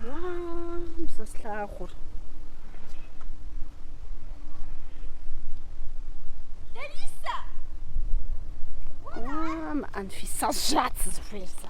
Уа, мы сэ слъагъур. Лариса! Уам, Анфисэ жат зыхуейр сэ.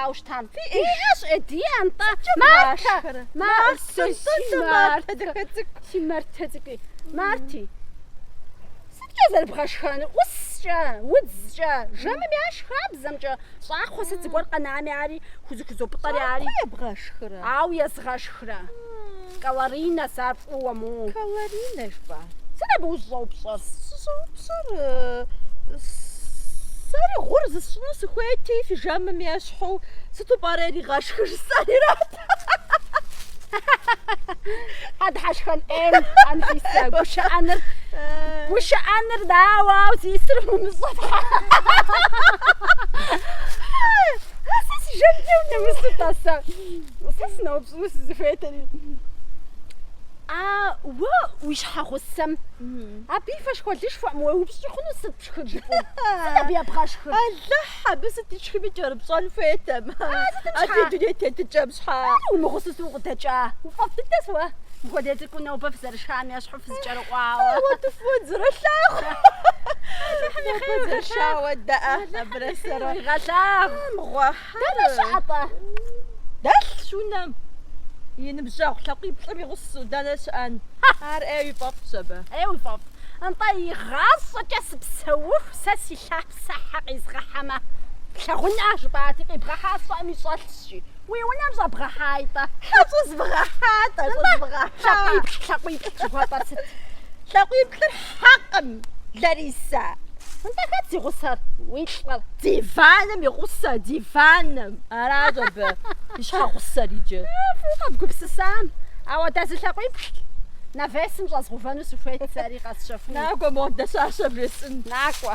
Ауэ щытам. Иӏэщ Эдие антӏэ. Мартэ. Мартэ. Мартэ дахэ цӏыкӏу. Си Мартэ цӏыкӏуи. Марти. Сыткӏэ зэрыбгъэшхэнур? ӏускӏэ, удзкӏэ, жэмым яш хабзэмкӏэ, щӏакхъуэ сыт зыгуэр къэнами ари, хузэхузопӏытӏэри ари. Ебгъэшхрэ? Ауэ езгъэшхрэ. Калорийнэ сэ ар фӏыуэ му. Калорийнэ жыпӏа? Сыт абы ущӏыщӏэупщӏэр? Сыщӏэупщӏэр сэри гъур зысщӏыну сыхуейти, фи жэмым ещхьу, сыту пӏэрэ иригъэшхыр жысӏэри арат. Хьэ, дыхьэшхэн ӏейм, Анфисэ, гушыӏэныр, гушыӏэныр дауэ, ау зисыр умыщӏэ фхьэ. Сэ си жэмкӏэ унэмысытӏэ сэ. Сэ сыноупщӏ. Фӏыуэ сызыхуейтэри. А уэ уи щхьэгъусэм абы и фэшхуэлышхуэм уеупщӏ хъуну сыт пшхыр жыпӏэу? Сыт абы ебгъэшхыр? Алыхь абы сыт ишхыми кӏэрыпщӏэн хуейтэм. А ди дуней тетыкӏэм. Щхьэ уимыгъусэу укъыдэкӏа? Уи фӏэфӏ дыдэщ уэ, мыпхуэдэ цӏыкӏуу нобэ фызэрышам ещхьу фызэкӏэрыӏуауэ. Ауэ дэ фӏыуэ дызэролъагъу. Алыхьым и хъер уигъэлъагъу. Дызэрышауэ даа абырэ сэрэ. Уигъэлъагъу. Мыгъуэ. Дэнэ щыӏэ-тӏэ? Дэлъщ унэм. И ныбжьэгъу лъакъуиплӏыр и гъусэу дэнэ щыӏэн? Ар ӏей уи фӏэфӏщ абы. Ӏей уи фӏэфӏ. Нтӏэ, игъащӏэкӏэ сыпсэуху, сэ си лъапсэ хьэ къизгъэхьэмэ плъагъункъэ, жыпӏати, къибгъэхьа сщӏэми щӏэлъщ, жи. Уи унэм щӏэбгъэхьай-тӏэ. Тхьэ, щӏэзмыгъэхьа-тӏэ, щӏэзмыгъэхьа. Нтӏэ, лъакъуиплӏ, лъакъуиплӏ жыхуэпӏэр сыт? Лъакъуиплӏыр Хьэкъым, Ларисэ. Нтӏэ, хэт зи гъусэр? Уи лӏыр. Диваным и гъусэ, диваным. Аращ абы и щхьэгъусэр иджы. Фӏыуэ къэбгупсысам. Ауэ дэ зы лъакъуиплӏ навесым щӏэзгъэувэну сыхуейт сэри къэсщэхуну. Накӏуэ, модэ щащэ весӏын. Накӏуэ.